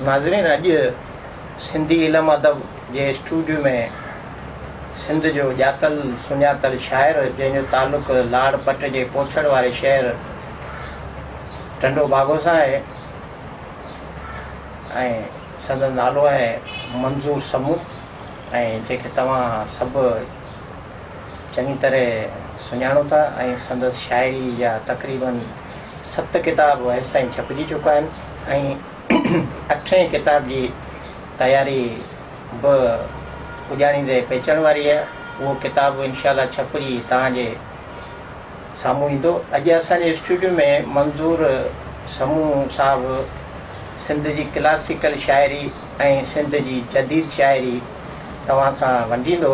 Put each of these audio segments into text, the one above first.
ناظرين اڄ سنڌي علم ادب جي اسٽوڊيو ۾ سنڌ جو ڄاتل سڃاتل شاعر جنهن جو تعلق لاڙ پٽ جي پوڇڙ واري شهر ٽنڊو باگو سان آهي ۽ سندن نالو آهي منظور سمون ۽ جنهن کي توهان سڀ چڱي طرح سڃاڻو ٿا ۽ سندس شاعري جا تقريباً ست ڪتاب هيستائين ڇپجي چڪا آهن ۽ اٺين ڪتاب جي تياري به پڄاڻيندي پئچڻ واري آهي. اهو ڪتاب به انشاء الله ڇپجي توهان جي سامهون ايندو. اڄ اسان جي اسٽوڊيو ۾ منظور سمون صاحب سنڌ جي ڪلاسيڪل شاعري ۽ سنڌ جي جديد شاعري توهان سان ونڊيندو.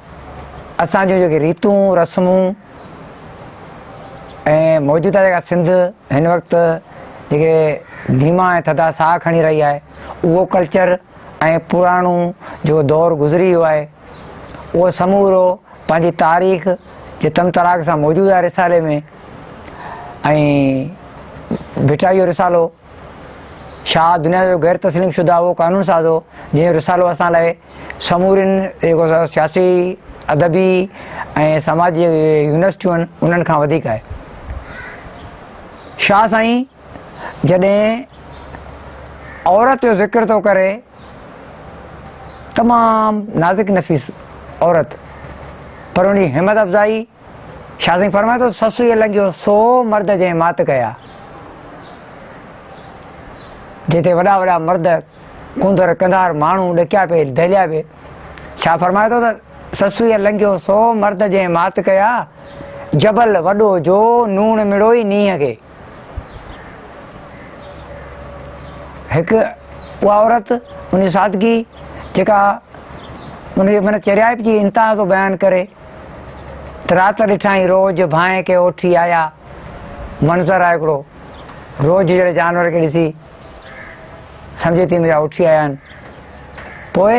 اسان جون جيڪي ريتون رسمون ۽ موجوده جيڪا سنڌ هن وقت جيڪي ڌيما ۽ ٿڌا ساهه کڻي رهي آهي اهو ڪلچر ۽ پراڻو جيڪو دور گذري ويو آهي اهو سمورو پنهنجي تاريخ جي تن تراڪ سان موجود آهي رسالي ۾ ۽ ڀٽائي جو رسالو شاهه دنيا جو غير تسليم شده اهو قانون ساز هو جنهن جو رسالو اسان لاء سمورين جيڪو سياسي، ادبي ۽ سماجي يونيورسٽيون انهن کان وڌيڪ آهي. شاهه سائين جڏهن عورت جو ذڪر ٿو ڪري تمام نازڪ نفيس عورت پر ان جي همت افزائي شاهه سائين فرمائي ٿو سسئي لنگهيو سو مرد جنهن مات ڪيا. جتي وڏا وڏا مرد ڪنڌر ڪنڌار ماڻهو ڏڪيا پي دهليا پي شاهه فرمائي ٿو ته سسئي لنگهيو سو مرد جنهن مات ڪيا جبل وڏو جو نوڻ مڙوئي نينهن کي هڪ اها عورت ان سادگي جيڪا ان جي من چريائپ جي انتها ٿو بيان ڪري رات ڏٺائين روڄ ڀانء کي اوٺي آيا. منظر آهي هڪڙو. روڄ جهڙي جانور کي ڏسي سمجهي ٿي منهنجا اوٺي آيا آهن. پوء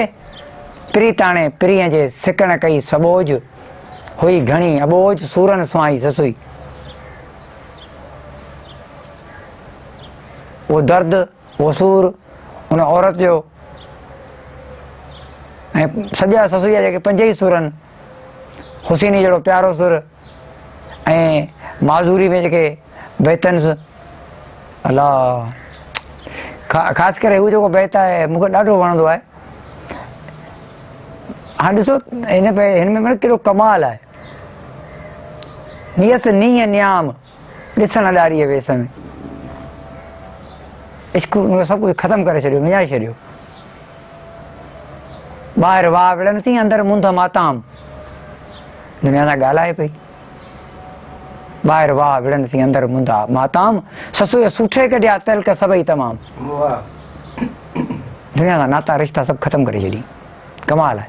پريتاڻي پرينء جي سڪڻ ڪئي سٻوڄ هئي گهڻي اٻوجھ سورن سونهائي سسئي. اهو درد. اهو سور ان عورت جو ۽ سڄا سسئي جا جيڪي پنج ئي سور آهن، حسيني جهڙو پيارو سور ۽ معذوري ۾ جيڪي بيتنز الا خاص ڪري هو جيڪو بيت آهي مون کي ڏاڍو وڻندو آهي. هاڻ ڏسو هن هن ۾ ڪيڏو ڪمال آهي. نيس نينهن نيام ڏسڻ اڏاريء ويس ۾. عشق اهو سڀ ڪجهه ختم ڪري ڇڏيو، وڃائي ڇڏيو. ٻاهر واء وڙهن ٿي، اندر منڌ ماتام. دنيا سان ڳالهائي پئي. ٻاهر واء وڙهن ٿي، اندر منڌ ماتام. سسوئي سوٺي ڪڍيا، تلڪ سڀئي تمام. دنيا سان ناتا رشتا سڀ ختم ڪري ڇڏيائين. ڪمال آهي.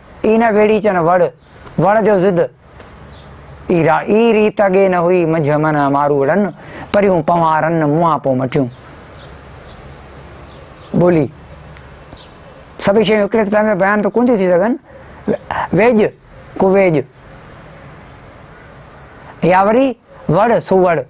اي نه گهڙي چن وڙ، وڻ جو ضد، اي را اي ريت اڳي نه هئي منجهه من ماروئڙن، پريون پنوهارن منهان پو مٽيون. ٻولي، سڀئي شيون هڪڙي ته ٽائيم ۾ بيان ته ڪونه ٿيون ٿي سگهن، ويڄ، ڪويڄ يا وري وڙ، سوڙ.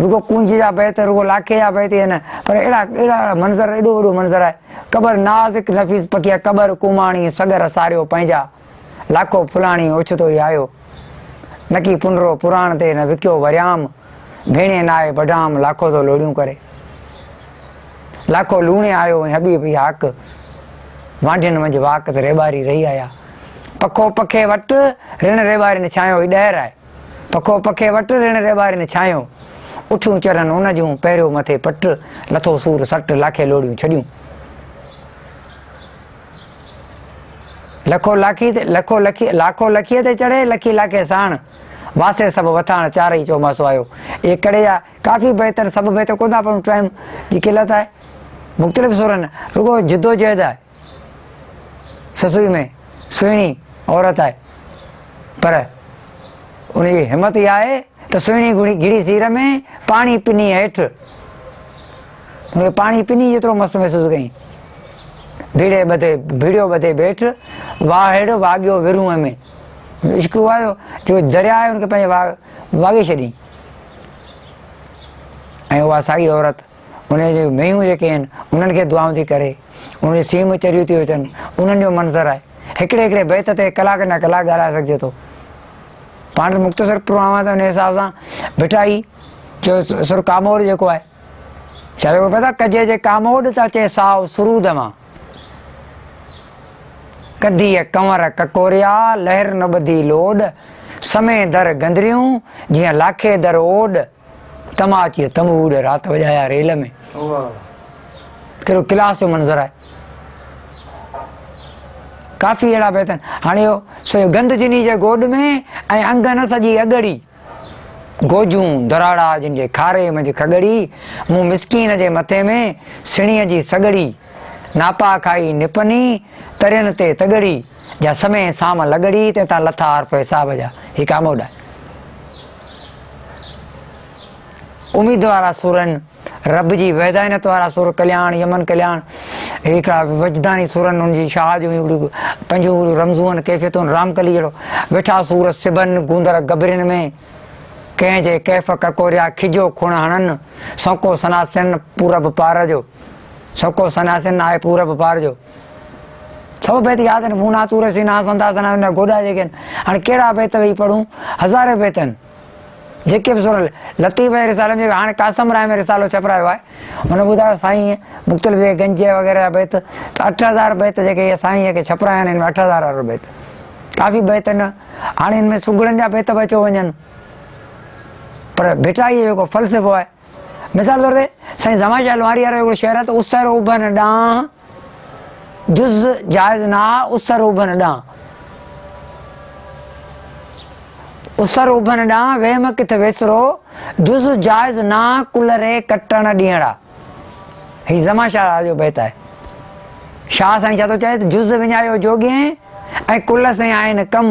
رڳو ڪونج جا بيت، رڳو لاکي جا بيت ئي نه پر اهڙا اهڙا منظر، ايڏو وڏو منظر آهي، قبر نازڪ نفيس پکيء قبر ڪوماڻي سڳر ساريو پنهنجا، لاکو ڦلاڻي اوچتو ئي آيو، نڪي پنرو پراڻ تي نه وڪيو وريام، ڀيڻي ناهي بڍام لاکو ٿو لوڙيون ڪري. لاکو لوڻي آيو ۽ حبيب ئي هاڪ، وانڍين منجھ واڪ ته ريٻاري رهي آيا، پکو پکي وٽ، رڻ ريٻارين ڇانيو ئي ڏهر آهي. پکو پکي وٽ، رڻ ري ٻارين ڇانيو. اٺون چرن ان جون، پهريو مٿي پٽ. لٿو سور سٽ، لاکي لوڙيون ڇڏيون. لکو لاکي تي، لکو لکي، لاکو لکيء تي چڙهي، لکي لاکي ساڻ. واسي سڀ وٿاڻ، چارئي چوماسو آيو. اهي ڪڙي جا ڪافي بيت آهن، سڀ بيت ڪونه ٿا پڙهون، ٽائيم جي قلت آهي. مختلف سرن، رڳو جدوجهد آهي. سسئي ۾ سهڻي عورت آهي پر ان جي همت اها آهي ته سهڻي گهڙي گهڙي سير ۾ پاڻي پني هيٺ ان کي پاڻي پني جيترو مست محسوس ڪئي بيڙي ٻڌي بيڙيو ٻڌي بيٺ واهڙ واڳيو ورونء ۾ عشق هو آيو جو درياء آهي ان کي پنهنجي واڳ واڳي ڇڏي ۽ اها ساڳي عورت انهن جون مينهون جيڪي آهن انهن کي دعائون ٿي ڪري، انهن جون سينهون چريون ٿيون اچن، انهن جو منظر آهي. هڪڙي هڪڙي بيت تي ڪلاڪن جا ڪلاڪ ڳالهائي سگهجي ٿو. پاڻ ته مختصر پڙهو آهيان ته ان حساب سان ڀٽائي جو سر ڪاموڏ جيڪو آهي شايد اهو پتا ڪجي جي ڪاموڏ ته اچي سائو سرود مان ڪڌيء ڪنور ڪڪوريا لهر نه ٻڌي لوڏ سمي در گندريون جيئن لاکي در اوڏ. تما اچي تم اوڏ رات وڄايا ريل ۾ ڪهڙو ڪلاس جو منظر آهي ڪافي اهڙا بيت آهن هاڻي اهو سڄو گند جني جي گوڏ ۾ ۽ انگن سڄي اڳڙي گوجون دراڙا جن جي کاري منجهه کڳڙي مون مسڪين جي مٿي ۾ سڻي جي سڳڙي ناپا کائي نپني ترين تي تڳڙي جا سمي سام لڳڙي تنهن تان لٿا عارف حساب جا هي ڪام اڏا اميد وارا سور آهن رب جي وحدانيت وارا سور ڪلياڻ يمن ڪلياڻ هڪڙا وجداني سور آهن ان جي شاهه جون اهڙيون پنجون اهڙيون رمزون آهن ڪيفيتون رام ڪلي جهڙو ويٺا سور سبن گوندر گبرين ۾ ڪنهن جي ڪيف ڪڪوريا کجو کڻ هڻن سوڪو سناسن پورب پار جو سوڪو سناسن آهي پورب پار جو سڀ بيت ياد آهن مون ناٿ اوري سين آس انداز سنا هن گوڏا جيڪي آهن هاڻي ڪهڙا بيت ويهي پڙهون هزارين بيت آهن جيڪي به سورل لطيف ۽ رسالي ۾ هاڻي قاسم راء ۾ رسالو ڇپرايو آهي هن ٻڌايو سائين مختلف جيڪي گنج وغيره جا بيت ته اٺ هزار بيت جيڪي هي سائين جيڪي ڇپرايا آهن هن ۾ اٺ هزار وارو بيت ڪافي بيت آهن هاڻي هن ۾ سگهڙن جا بيت به اچيو وڃن پر ڀٽائيء جو جيڪو فلسفو آهي مثال طور تي سائين زمان شاهه لوهاري وارو هڪڙو شعر آهي ته اسر اڀن ڏانهن جز جائز نه آ اسر اڀن ڏانهن اسر اڀن ڏانهن وهم ڪٿ ويسرو جز جائز نه آ ڪل ري ڪٽڻ ڏيڻا هي زمان شاهه لال جو بيت آهي شاهه سائين ڇا ٿو چئي ته جز وڃايو جوڳين ۽ ڪل سين آهن ڪم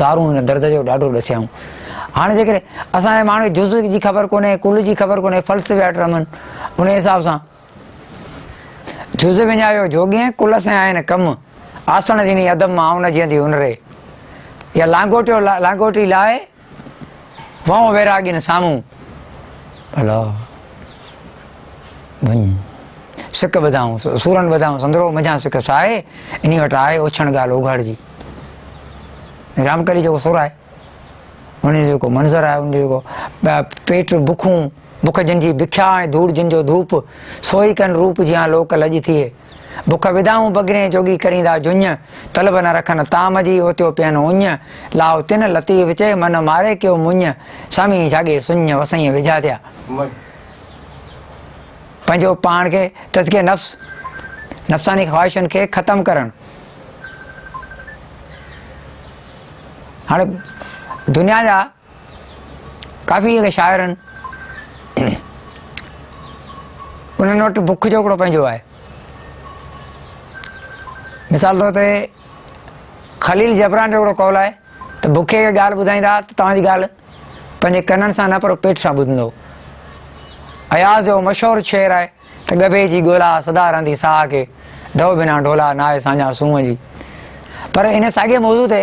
دارون هن درد جو ڏاڍو ڏسيائون. هاڻي جيڪڏهن اسان جي ماڻهوء کي جزء جي خبر ڪونهي، ڪل جي خبر ڪونهي، فلسفي آٽ رمن انهيء حساب سان جزء وڃايو جوڳين، ڪل سين آهن ڪم، آسڻ جنهين عدم مان آئون نه جيئندي هن ري. يا لانگوٽيو لانگوٽي لاهي وانء ويراڳين سامهون ڀلا وڃ. سڪ ٻڌائون سورن ٻڌائون سندرو منجهان سک سائي انهي وٽ آء اوڇڻ ڳالهه اوگهاڙجي. رامڪلي جيڪو سر آهي ان جو جيڪو منظر آهي ان جو جيڪو پيٽ بکون بک جن جي بکيا ۽ ڌوڙ جن جو ڌوپ سوئي ڪن روپ جيان لوڪ لڄ ٿئي. بک ودائون بگرين جوڳي ڪريندا جڃ، طلب نه رکن طعام جي اوتيو پين اڃ، لاء تن لطيف وچي من ماري ڪيو مڃ، سامي جاڳي سڃ وسائين وجها ديا. پنهنجو پاڻ کي تزڪيي نفس، نفساني خواهشن کي ختم ڪرڻ. هاڻي دنيا جا ڪافي اهڙي شاعر آهن انهن وٽ بک جو هڪڙو پنهنجو آهي مثال طور تي خليل جبران جو هڪڙو قول آهي ته بکي کي ڳالهه ٻڌائيندا ته توهانجي ڳالهه پنهنجي ڪنن سان نه پر پيٽ سان ٻڌندو اياز جو مشهور شعر آهي ته ڳڀي جي ڳولا سدا رهندي ساهه کي ڍو بنا ڍولا ناهي ساڃا سونهن جي پر ان ساڳي موضوع تي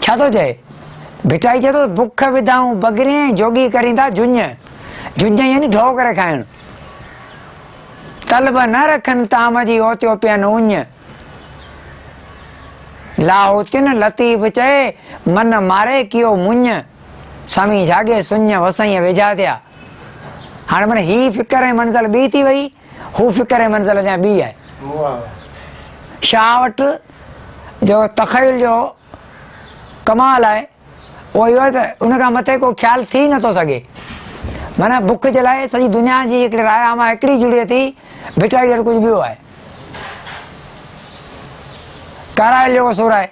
ڇا ٿو چئي؟ ڀٽائي چئي ٿو ته بک وڌائون بگرين ۽ جوڳي ڪرين ٿا جڃ. جڃ يعني ڍؤ ڪري کائڻ. طلب نه رکن طعام جي اوتيو پين اڃ. لاهوتين لطيف چئي من ماري ڪيو مڃ. سوين جھاڳي سڃ وسائيء ويجھا ٿيا. هاڻي معنيٰ هي فڪر ۽ منزل ٻي ٿي وئي. هو فڪر ۽ منزل اڃا ٻي آهي. شاهه وٽ جو تخيل جو ڪمال آهي اهو اهو آهي ته ان کان مٿي ڪو خيال ٿي نه ٿو سگهي. معنيٰ بک جي لاء سڄي دنيا جي هڪڙي راء عامه هڪڙي جڙي ٿي، ڀٽائي وٽ ڪجهه ٻيو آهي. ڪارائل جو ڪو سور آهي.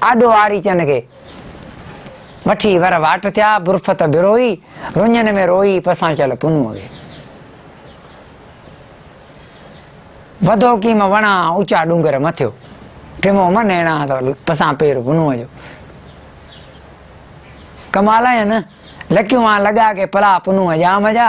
آڏو آڙي چن کي وٺي ور واٽ ٿيا، برفت بروئي، رڃن ۾ روئي، پسان چل پنهون کي. وڌو ڪيم وڻا، اوچا ڏونگر مٿيو، ٽمو من ايڻا، پسان پير پنهون جو. ڪمال آهي نه، لڪيون آن لڳا ڪي پلا پنهون ڄام جا.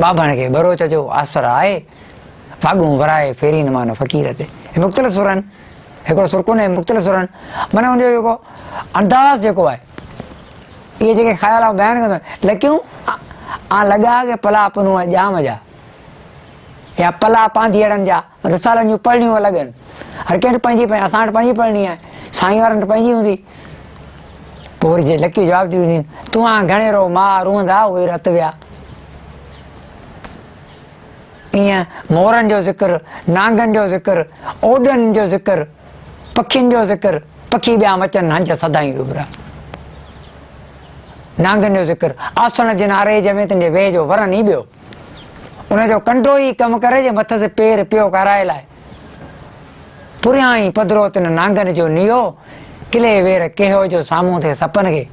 ٻاڀڻ کي ٻروچ جو آسر آهي، ڦاڳون ورائي ڦيرين مان فقير تي. هي مختلف سر آهن، هڪڙو سر ڪونهي، مختلف سر آهن، معنيٰ ان جو جيڪو انداز جيڪو آهي، اهي جيڪي خيال آئون بيان ڪندو آهيان، لڪيون آن لڳا ڪي پلا پنهون ڄام جا يا پلا پانڌيئڙن جا. رسالن جون پڙهڻيون الڳ آهن. هر ڪنهن وٽ پنهنجي پنهنجي اسان وٽ پنهنجي پڙهڻي آهي. سائين وارن وٽ پنهنجي هوندي. پوء وري جي لڪيون جواب ٿيون ڏين، توهان گهڻي رئو ماء روئندا اهي رت ويا. ايئن مورن جو ذڪر، نانگن جو ذڪر، اوڏن جو ذڪر، پکين جو ذڪر، پکي ٻيا مچن هنج سدائين ڏوبرا. نانگن جو ذڪر، آسڻ جن آريج ۾ تن جي ويهه جو ورن ئي ٻيو. ان جو ڪنڊو ئي ڪم ڪري جي مٿس پير پيو ڪارائي لائي. پريان ئي پڌرو تن نانگن جو نيو ڪلي وير ڪيهو جو سامهون ٿئي سپن کي.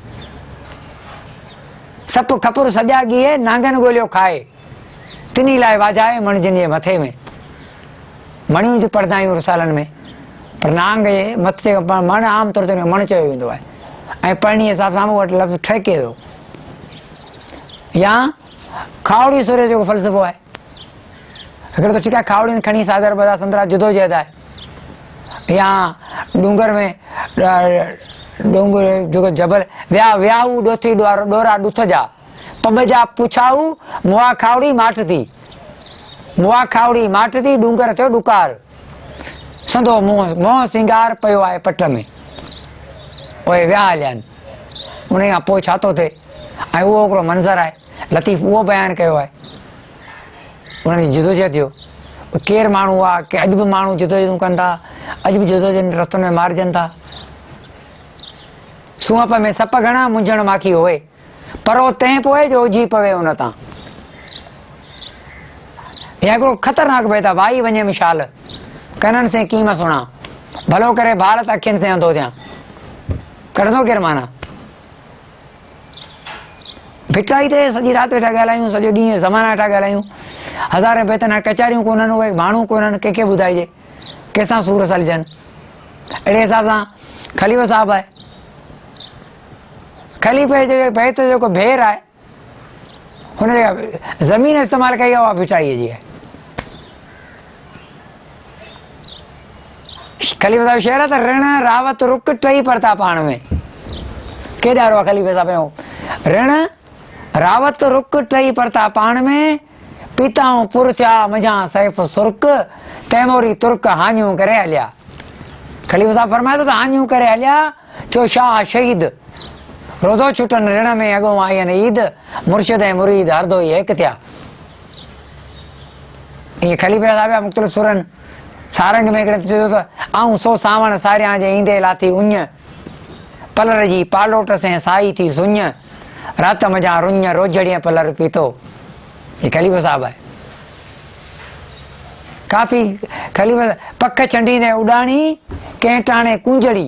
سپ کپر سڄا ڳيهي نانگن ڳوليو کائي. تني لائي واجهائي مڻ جن جي مٿي ۾. مڻيون ته پڙهندا آهيون رسالن ۾ پر نانگ جي مٿ تي مڻ عام طور تي ان کي مڻ چيو ويندو آهي ۽ پڙهڻي حساب سان مون وٽ لفظ ٺهڪي ويو يا کاهوڙي سورهيه جو ڪو فلسفو آهي؟ هڪڙو ته ٺيڪ آهي کاهوڙين کڻي ساگر بازار سندرا جدوجهد آهي يا ڏونگر ۾ ڏونگر جيڪو جبل ويا وياهو ڏوٿي ڏورا ڏٿ جا پٻ جا پڇاهو موا کاهوڙي ماٺ ٿي موا کاهوڙي ماٺ ٿي ڏونگر ٿيو ڏڪار سندو منهن منهن سينگار پيو آهي پٽ ۾ پوء ويا هليا آهن ان کان پوء ڇا ٿو ٿئي ۽ اهو هڪڙو منظر آهي، لطيف اهو بيان ڪيو آهي انهن جي جدوجهد جو ڀي ڪير ماڻهو هئا ڪي اڄ به ماڻهو جدوجهدون ڪن ٿا اڄ به جدوجهد رستن ۾ مارجن ٿا سونهپ ۾ سپ گهڻا منجهڻ ماکي هوئي پرو تنهن پوء جو اجهي پوي ان تان يا هڪڙو خطرناڪ بيت آهي وائي وڃي مشال ڪنن سين ڪي مان سڻا ڀلو ڪري ڀارت اکين سين انڌو ٿيان ڪڍندو ڪير مانا ڀٽائي تي سڄي رات ويٺا ڳالهايون، سڄو ڏينهن زمانا ويٺا ڳالهايون، هزارين بيتن هاڻ ڪچهريون ڪونهن، اهي ڀاڻون ڪونهن، ڪنهن کي ٻڌائجي، ڪنهن سان سور سلجن. اهڙي حساب سان خليفو صاحب آهي. خليفي جي بيت جو جيڪو ڀير آهي، هن جيڪا زمين استعمال ڪئي آهي اها ڀٽائيء جي آهي. خليفي صاحب شعر ته رڻ راوت رڪ ٽئي پرتا پاڻ ۾ ڪيڏا روئا خليفي صاحب هو رڻ راوت رڪ ٽئي پرتا پاڻ ۾ پيتائون پر ٿيا منجان سيف سرڪ تيموري ترڪ هاڃون ڪري هليا خليفي صاحب فرمائي ٿو ته هاڃون ڪري هليا ٿيو شاهه شهيد روزو ڇٽن رڻ ۾ اڳو آئين عيد مرشد ۽ مريد هر دوئي هيڪ ٿيا ائين خليفي صاحب جا مختلف سرن سارنگ ۾ هڪڙي چيو ته آئون سو سانوڻ ساريان جي ايندي لاٿي اڃ پلر جي پالوٽ سين سائي ٿي سڃ رات مجان رڃ روجڙيء پلر پيتو هي خليفو صاحب آهي ڪافي خليفه پک ڇنڊيندي اڏاڻي ڪنهن ٽاڻي ڪونجڙي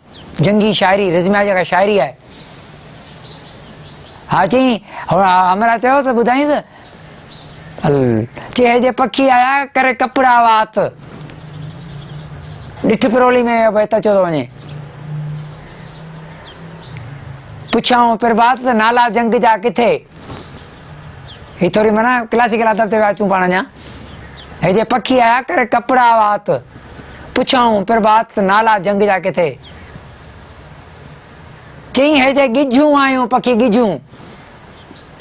جنگي شاعري رزميا جيڪا شاعري آهي. ها چئين همراهه چيو ته ٻڌائينس ال چيهي جي پکي آيا ڪري ڪپڙا وات ڏٺ پرولي ۾ بھي تچو ٿو وڃي پڇيائون پرڀات ته نالا جنگ جا ڪٿي هي ٿوري معنيٰ ڪلاسيڪل ادب تي ويا اچون پاڻ اڃا هي جي پکي آيا ڪري ڪپڙا وات پڇائون پرڀات نالا جنگ جا ڪٿي چئين هي جي ڳجهون آيون پکي ڳجهون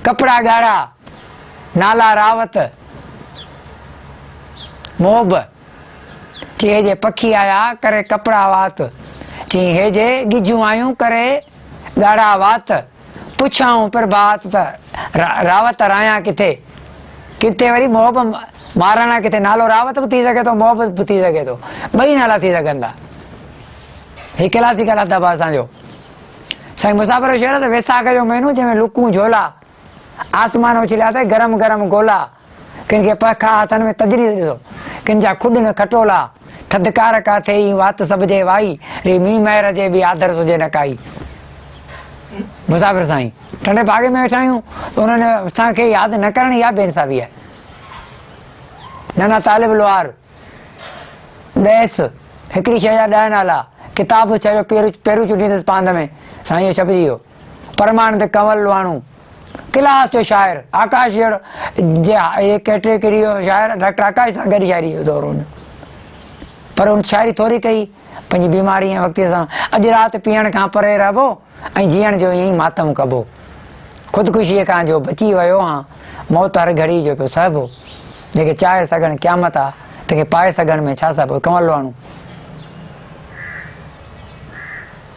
ڪپڙا ڳاڙها نالا راوت موب چي هي جي پکي آيا ڪري ڪپڙا وات چئين هي جي ڳجهون آيون ڪري ڳاڙها وات پڇيائون پرڀات ته راوت رايان ڪٿي؟ ڪٿي وري محب مهاراڻا ڪٿي؟ نالو راوت به ٿي سگهي ٿو محب به ٿي سگهي ٿو ٻئي نالا ٿي سگهن ٿا هي ڪلاسيڪل ادب آهي اسان جو سائين مسافر جو شعر ته ويساک جو مهينو جنهن ۾ لڪون جھولا آسمان اڇليا اٿئي گرم گرم گولا ڪن کي پک آ هٿن ۾ تجريد ڏسو ڪن جا کڏ نه کٽولا ٿڌڪار ڪا ٿئي اين وات سڀ جي وائي ري مينهن مهر جي به آڌر سجي نه ڪائي مسافر سائين ٽنڊي باغي ۾ ويٺا آهيون ته انهن اسان کي ياد نه ڪرڻ يا بي انصافي آهي نانا طالب لوهار ڏيس هڪڙي شيء جا ڏهه نالا ڪتاب ڇڏيو پيرو چونڊيندس پاند ۾ سائين جو ڇپجي ويو پرماڻند ڪنول لوهاڻو ڪلاس جو شاعر آڪاش جهڙو جي اهي ڪيٽيگريء جو شاعر ڊاڪٽر آڪاش سان گڏ شاعري جو دور هن پر هن شاعري ٿوري ڪئي پنهنجي بيماري ۽ وقتي سان اڄ رات پيئڻ کان پري رهبو ۽ جيئڻ جو ائين ئي ماتم ڪبو خودڪشيء کان جو بچي ويو هان موت هر گهڙي جو پيو سهبو جيڪي چاهي سگهن قيامت آ تنهن کي پائي سگهڻ ۾ ڇا سهبو ڪنول لواڻو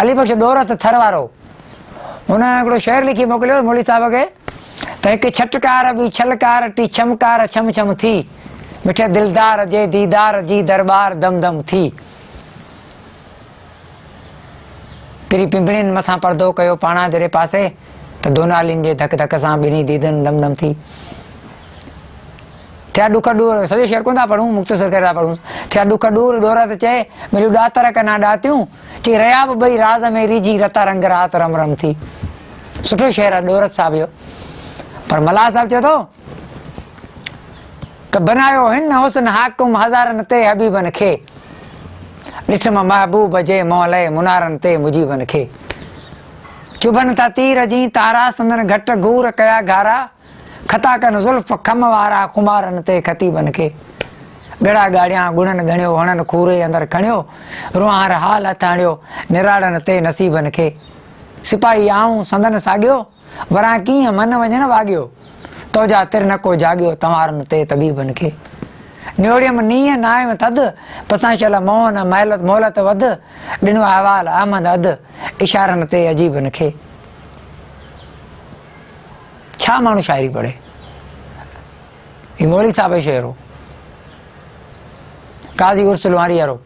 علي بخش ڏورت ٿر وارو هن هڪڙو شعر لکي موڪليو مولوي صاحب کي ته هڪ ڇٽڪار ٻي ڇلڪار ٽي ڇمڪار ڇم ڇم ٿي مٺي دلدار جي ديدار جي درٻار دم دم ٿي پري پنبڻين مٿان پردو ڪيو پاڻا جڏهن پاسي ته دونالين جي ڌڪ ڌڪ سان ٻنهي ديدن دم دم ٿي. ٿيا ڏک ڏور، سڄو شعر ڪونه ٿا پڙهون، مختصر ڪري ٿا پڙهون، ٿيا ڏک ڏور، ڏور ته چئي، مليون ڏاتر ڪنا ڏاتيون، چئي رهيا به ٻئي راز ۾ ريجهي، رتا رنگ رات رم رم ٿي. سٺو شعر آهي ڏورت صاحب جو. پر ملاح صاحب چئي ٿو ته بنايو هن حسن حاڪم هزارن تي حبيبن کي، ڏٺم محبوب جي محلئي منارن تي مجيبن کي. چڀن ٿا تير جئين تارا، سندن گهٽ گهور ڪيا گهارا، خطا ڪن زلف خم وارا خمارن تي خطيبن کي ڳڙا ڳاڙيان ڳڙن ڳڻيو هڻن کوري اندر کڻيو روهانر حال هٿ هڻيو نراڙن تي نصيبن کي سپاهي آئون سندن ساڳيو وران ڪيئن من وڃن واڳيو توجا تر نه ڪو جاڳيو تنوارن تي طبيبن کي نيوڙيم نينهن نايم ٿڌ پسانشل موهن مهلت مهلت وڌ ڏنو احوال احمد اڌ اشارن تي عجيبن کي ڇا ماڻهو شاعري پڙهي؟ هي مولوي صاحب جو شعر هو. قاضي عرس لوهاريء رو،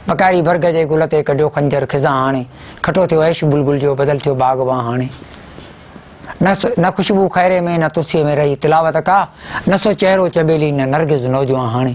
پڪاري برگ جي گل تي ڪڍيو خنجر خزان هاڻي، کٽو ٿيو عيش بلبل جو بدل ٿيو باغبان هاڻي. نه خوشبو خيري ۾ نه تلسيء ۾ رهي تلاوت ڪا، نه سو چهرو چنبيلي نه نرگس نوجوان هاڻي.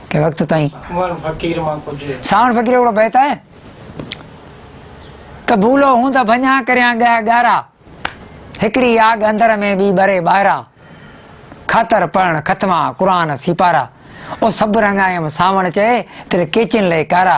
ڪنهن وقت تائين ساوڻ فقير مان ڪجهه ساوڻ فقير هڪڙو بيت آهي ته ڀولو هون ته ڀڃا ڪريان ڳهه ڳارا هڪڙي آڳ اندر ۾ ٻي ٻري ٻاهرا خاطر پڙهڻ ختما قرآن سيپارا او سڀ رنگايم ساوڻ چئي تن ڪيچين لئي ڪارا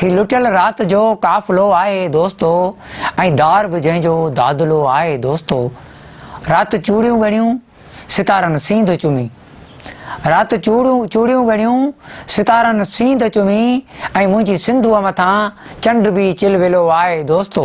هي لٽيل رات جو قافلو آهي دوستو ۽ دار به جنهن جو دادلو آهي دوستو رات چوڙيون ڳڻيون ستارن سينڌ چمي رات چوڙيون چوڙيون ڳڻيون ستارن سينڌ چمي ۽ منهنجي سنڌوء مٿان چنڊ به چلولو آهي دوستو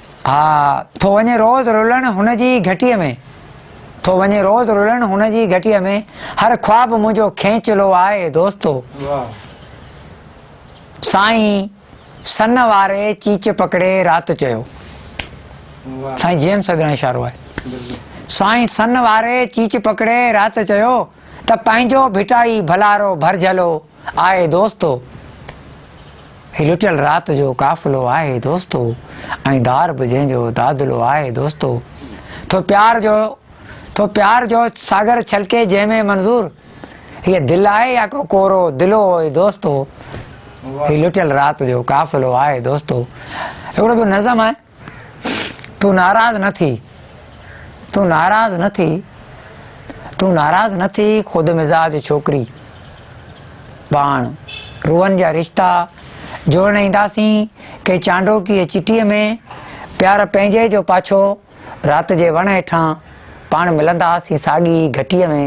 ها ٿو وڃي روز رلڻ هن جي گهٽيء ۾. ٿو وڃي روز رلڻ هن جي گهٽيء ۾. هر خواب منهنجو کينچلو آهي دوستو. سائين سن واري چيچ پڪڙي رات چيو. سائين جي ايم سيد ڏانهن اشارو آهي. سائين سن واري چيچ پڪڙي رات چيو ته پنهنجو ڀٽائي ڀلارو ڀرجهلو. آهي دوستو هي لٽيل رات جو قافلو آهي دوستو ۽ دار به جنهن جو دادلو آهي دوستو ٿو پيار جو ٿو پيار جو ساگر ڇلڪي جنهن ۾ منظور هي دل آهي يا ڪو ڪورو دلو آهي دوستو هي لٽيل رات جو قافلو آهي دوستو اهڙو به نظم آهي تون ناراض نه ٿي تون ناراض نه ٿي تون ناراض نه ٿي خود مزاج ڇوڪري پاڻ روحن جا رشتا جوڙڻ اينداسين ڪنهن چانڊوڪي چٽي ۾ پيار پنهنجي جو پاڇو رات جي وڻ هيٺان پاڻ ملنداسين ساڳي گهٽي ۾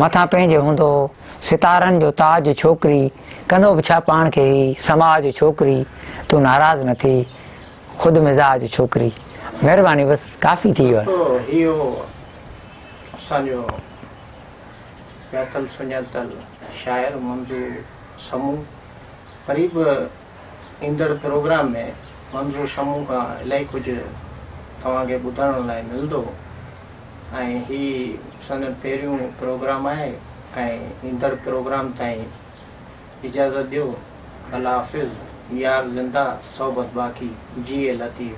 مٿان پنهنجي هوندو ستارن جو تاج ڇوڪري ڪندو به ڇا پاڻ کي هي سماج ڇوڪري تون ناراض نه ٿي خود مزاج ڇوڪري مھرباني بس ڪافي ٿي ويو. ڏسو ھي ھو اسان جو ڄاتل سڃاتل شاعر منظور سمون وري به ايندڙ پروگرام ۾ منظور سمون کان الائي ڪجهه توهان کي ٻڌائڻ لاء ملندو ۽ ھي سندن پهريون پروگرام آهي ۽ ايندڙ پروگرام تائين اجازت ڏيو الله حافظ يار زنده صحبت باقي جيئي لطيف.